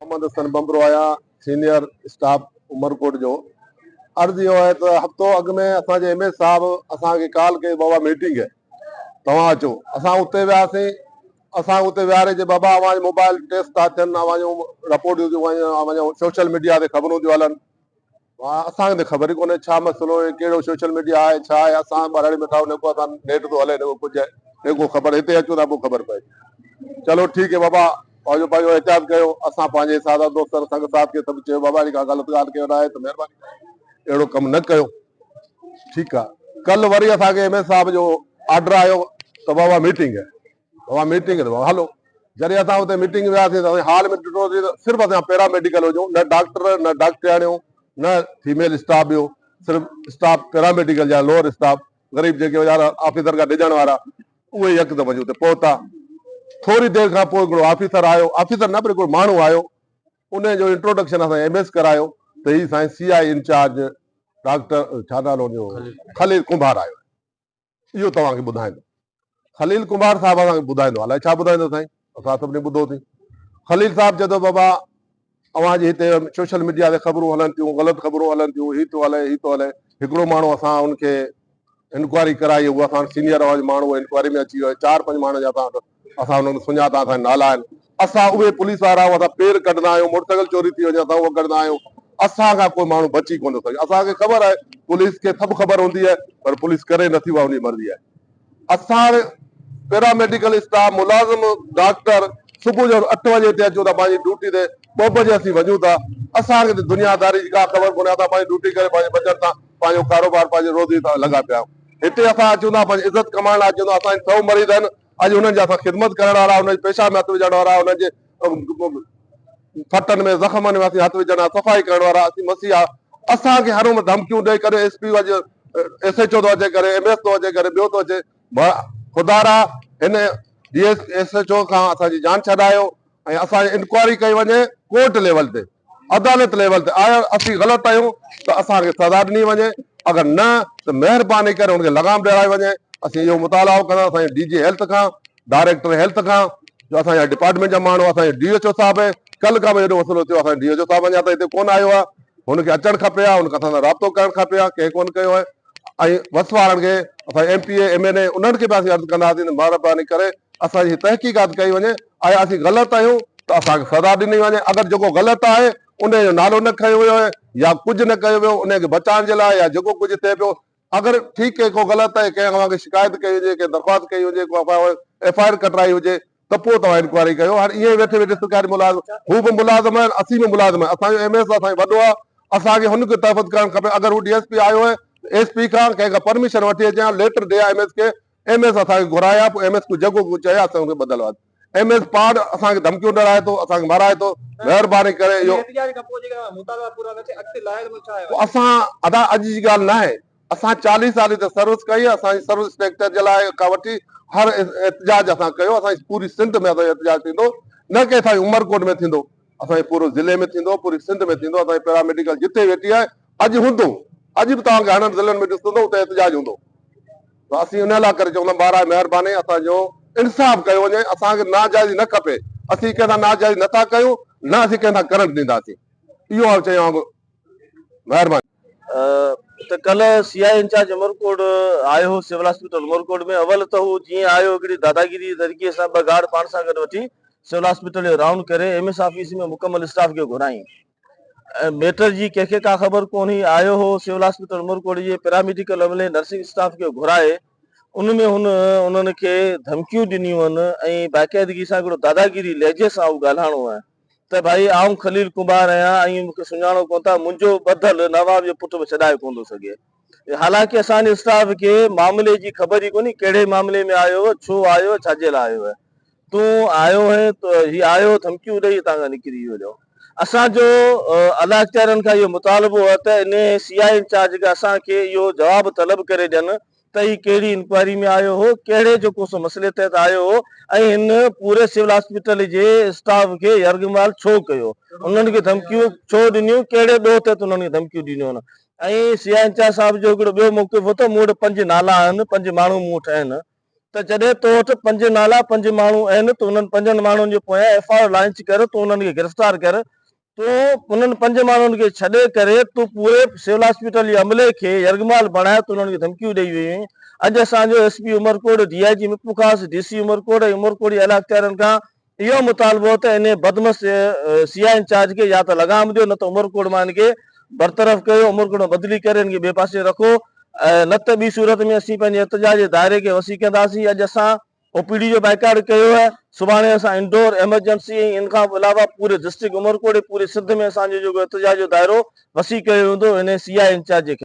محمد حسن ٻنبرو آهيان senior staff Umerkot جو عرض اهو آهي ته هفتو اڳ ۾ اسان جي ايم ايل صاحب اسان کي ڪال ڪئي بابا ميٽنگ توهان اچو اسان اتي وياسين اسان کي اتي ويهاري چي بابا اوهان جي موبائل ٽريس ٿا ٿين اوهان جون رپورٽيون ٿيون ڪن اوهان جون سوشل ميڊيا تي خبرون ٿيون هلن اسان کي ته خبر ئي ڪونهي ڇا مسئلو آهي ڪهڙو سوشل ميڊيا آهي ڇا آهي اسان ٻهراڙي ۾ ٿا نڪو اسان نيٽ ٿو هلي نڪو ڪجهه آهي نڪو خبر هتي اچون ٿا پوء خبر پئي چلو ٺيڪ آهي بابا پنهنجو پنهنجو احتياط ڪيو اسان پنهنجي سادا دوستن سنگ ساٿ کي سڀ چيو بابا اهڙي ڪا غلط ڳالهه ڪيو ناهي ته مهرباني ڪري اهڙو ڪم نه ڪيو ٺيڪ آ ڪل وري اسان کي ايم اين صاحب جو آرڊر آيو ته بابا ميٽنگ هي بابا ميٽنگ هي ته بابا هلو جڏهن اسان اتي ميٽنگ وياسين ته اسان هال ۾ ڏٺوسين ته صرف اسان پيراميڊيڪل هجو نه ڊاڪٽر نه ڊاڪٽرياڻيون نه فيميل اسٽاف ٻيو صرف اسٽاف پيراميڊيڪل جا لوور اسٽاف غريب جيڪي ويچارا آفيسر کان ڊڄڻ وارا اهي يڪدم وڃي اتي پهتا ٿوري دير کان پوء هڪڙو آفيسر آيو آفيسر نه پر هڪڙو ماڻهو آيو انهيء جو انٽروڊڪشن اسان ايم ايس ڪرايو ته هي سائين سي آء انچارج ڊاڪٽر ڇا نالو هن جو خليل ڪنڀار آيو آهي اهو توهان کي ٻڌائيندو خليل ڪنڀار صاحب اسان کي ٻڌائيندو الائي ڇا ٻڌائيندو سائين اسان سڀني ٻڌو اٿئي خليل صاحب چئي ٿو بابا اوهان جي هتي سوشل ميڊيا تي خبرون هلن ٿيون غلط خبرون هلن ٿيون هي ٿو هلي هي ٿو هلي هڪڙو ماڻهو اسان ان کي انڪوائري ڪرائي هو اسان سينئر اوهان جو ماڻهو انڪوائري ۾ اچي ويو آهي چار پنج ماڻهن جا اسان وٽ اسان انهن کي سڃاتا اسان جا نالا آهن اسان اهي پوليس وارا آهيون اسان پير ڪڍندا آهيون موٽرسائيڪل چوري ٿي وڃي اسان اهو ڪڍندا آهيون اسان کان ڪو ماڻهو بچي ڪونه ٿو سگهي اسان کي خبر آهي پوليس کي سڀ خبر هوندي آهي پر پوليس ڪري نه ٿي اها ان جي مرضي آهي اسان پيراميڊيڪل اسٽاف ملازم ڊاڪٽر صبح جو اٺ بجي هتي اچون ٿا پنهنجي ڊيوٽي تي ٻه بجي اسين وڃون ٿا اسان کي دنيا داري جي ڪا خبر ڪونهي اسان پنهنجي ڊيوٽي ڪري پنهنجي بچت سان پنهنجو ڪاروبار پنهنجي روزي تان لڳا پيا آهيون هتي اسان اچون ٿا پنهنجي عزت ڪمائڻ لاء اچون ٿا اسان جي سؤ مريد آهن اڄ انهن جي اسان خدمت ڪرڻ وارا انهن جي پيشاب ۾ هٿ وجهڻ وارا انهن جي ڦٽن ۾ زخمن ۾ اسين هٿ وجهڻ وارا صفائي ڪرڻ وارا اسين مسيحا اسان کي هر عمر ڌمڪيون ڏئي ڪڏهن ايس پي اڄ ايس ايچ او ٿو اچي ڪڏهن ايم ايس ٿو اچي ڪڏهن ٻيو ٿو اچي خدارا هن D S S H O کان اسان جي جان ڇڏايو ۽ اسان جي انڪوائري ڪئي وڃي ڪورٽ ليول تي عدالت ليول تي آير اسين غلط آهيون ته اسان کي سزا ڏني وڃي اگر نه ته مهرباني ڪري هن کي لغام ڏيارائي وڃي اسين اهو مطالعو ڪندا سائين ڊي جي هيلٿ کان ڊائريڪٽر هيلٿ کان جو اسان جا ڊپارٽمينٽ جا ماڻهو اسان جي ڊي ايچ او صاحب ڪل کان به هيڏو مسئلو ٿيو اسان ڊي ايچ او صاحب اڃا تائين هتي ڪون آيو آهي هن کي اچڻ کپي ها هن کان اسان رابطو ڪرڻ کپي ها ڪنهن ڪون ڪيو آهي ۽ وس وارن کي اسان M P A M N A انهن کي به اسين عرض ڪنداسين مهرباني ڪري اسان جي تحقيقات ڪئي وڃي آيا اسين غلط آهيون ته اسان کي سزا ڏني وڃي، اگر جيڪو غلط آهي انهي جو نالو نه کنيو ويو آهي يا ڪجهه نه ڪيو ويو انهي کي بچائڻ جي لاء يا جيڪو ڪجهه ٿئي پيو اگر ٺيڪ ڪنهن ڪو غلط آهي ڪنهن اوهان کي شڪايت ڪئي هجي ڪنهن درخواست ڪئي هجي ڪو ايف آء آر ڪٽرائي هجي ته پوء توهان انڪوائري ڪيو هاڻي ائين ويٺي ويٺي سرڪاري ملازم هو به ملازم آهن اسين به ملازم آهيون اسان جو ايم ايس اسان کي وڏو آهي اسان کي هن کي تحفظ ڪرڻ کپي اگر هو ڊي ايس پي آيو آهي ايس پي کان ڪنهن کان پرميشن وٺي اچي يا ليٽر ڏي ايم ايس کي ايم ايس اسان کي گهرائي ها پوء ايم ايس ڪو جيڪو ڪو چئي ها اسان کي بدل ها ايم ايس پاڙ اسان کي ڌمڪيون ڏراهي ٿو اسان کي مارائي ٿو مهرباني ڪري اهو پوء اسان ادا اڄ جي ڳالهه ناهي اسان چاليهه سال هتي سروس ڪئي اسان جي سروس اسٽريڪچر جي لاء کان وٺي هر احتجاج اسان ڪيو اسان جي پوري سنڌ ۾ اسان جو احتجاج ٿيندو نه ڪي اسان جي عمرڪوٽ ۾ ٿيندو اسان جي پورو ضلعي ۾ ٿيندو پوري سنڌ ۾ ٿيندو اسان جي پيراميڊيڪل جتي ويٺي آهي اڄ هوندو اڄ به توهان کي هنن ضلعن ۾ ڏسندو اتي احتجاج هوندو. ته اسين ان لاء ڪري چوندا براء مهرباني اسان جو انصاف ڪيو وڃي اسان کي ناجائزي نه کپي اسين ڪنهن سان ناجائزي نه ٿا ڪيون نه اسين ڪنهن سان ڪرنٽ ڏينداسين اهو آء چيان ٿو مهرباني. ته ڪلهه سي آء اي انچارج عمرڪوٽ آيو هو سول هاسپيٽل عمرڪوٽ ۾ اول ته هو جيئن آيو هڪڙي داداگيري جي طريقي سان ٻه گارڊ پاڻ سان گڏ وٺي سول هاسپيٽل جو رائونڊ ڪري ايم ايس آفيس ۾ مڪمل اسٽاف کي گهرائين ميٽر جي ڪنهن کي ڪا خبر ڪونهي، آيو هو سول آسپيٽل عمرڪوٽ جي پيراميڊيڪل عملي نرسنگ اسٽاف کي گهرائي ان ۾ هن انهن کي ڌمڪيون ڏنيون هن ۽ باقاعدگي سان هڪڙو داداگيري لهجي سان اهو ڳالهائڻو هو ته ڀائي آئون خليل ڪنڀار آهيان ۽ مون کي سڃاڻو ڪونه ٿا منهنجو ٻڌل نواب جو پٽ به ڇڏائي ڪونه ٿو سگهي حالانڪه اسان جي اسٽاف کي معاملي جي خبر ئي ڪونهي ڪهڙي معاملي ۾ آيو هو ڇو آيو هو ڇاجي لاء آيو هو تون آيو هين ته هي آيو ڌمڪيون ڏئي هتان کان نڪري ويو جو اسان جو الاج ڪيرن کان اهو مطالبو هو ته انهي سي آء اي انچارج کان اسان کي اهو جواب طلب ڪري ڏين ته هي ڪهڙي انڪوائري ۾ آيو هو ڪهڙي جو ڪو سو مسئلي تحت آيو هو ۽ هن پوري سول هاسپيٽل جي اسٽاف کي يرغمال ڇو ڪيو انهن کي ڌمڪيون ڇو ڏنيون ڪهڙي ڏوهه تحت انهن کي ڌمڪيون ڏنيون ۽ سي آء اي انچارج صاحب جو هڪڙو ٻيو موقف هو ته مون وٽ پنج نالا آهن پنج ماڻهو مون وٽ آهن ته جڏهن تو وٽ پنج نالا، پنج ماڻهو اهن ته انهن پنجن ماڻهن جي پويان ايف آء آر لانچ ڪر، تون انهن کي گرفتار ڪر، تون انهن پنج ماڻهن کي ڇڏي ڪري تون پوري سول هاسپيٽل جي عملي کي يرغمال بڻاء، تون انهن کي ڌمڪيون ڏئي ويو هين، اڄ اسان جو S P Umerkot, D I G مپو خاص، ڊي سي عمرڪوٽ ۽ عمرڪوٽ جي اعليٰ اختيارين کان اهو مطالبو ته انهي بدمست سي آء انچارج کي يا ته لغام ڏيو نه ته عمرڪوٽ مان هن کي برطرف ڪيو، عمرڪوٽ مان بدلي ڪري هن کي ٻئي پاسي رکو نه ته ٻي صورت ۾ اسين پنهنجي احتجاج جي دائري کي وسيع ڪنداسين، اڄ اسان او پي ڊي جو بائيڪاٽ ڪيو آهي، سڀاڻي اسان انڊور، ايمرجنسي ۽ ان کان علاوه پوري ڊسٽرڪٽ عمرڪوٽ ۽ پوري سنڌ ۾ اسان جو جيڪو احتجاج جو دائرو وسيع ڪيو ويندو، انهي سي آء انچارج کي.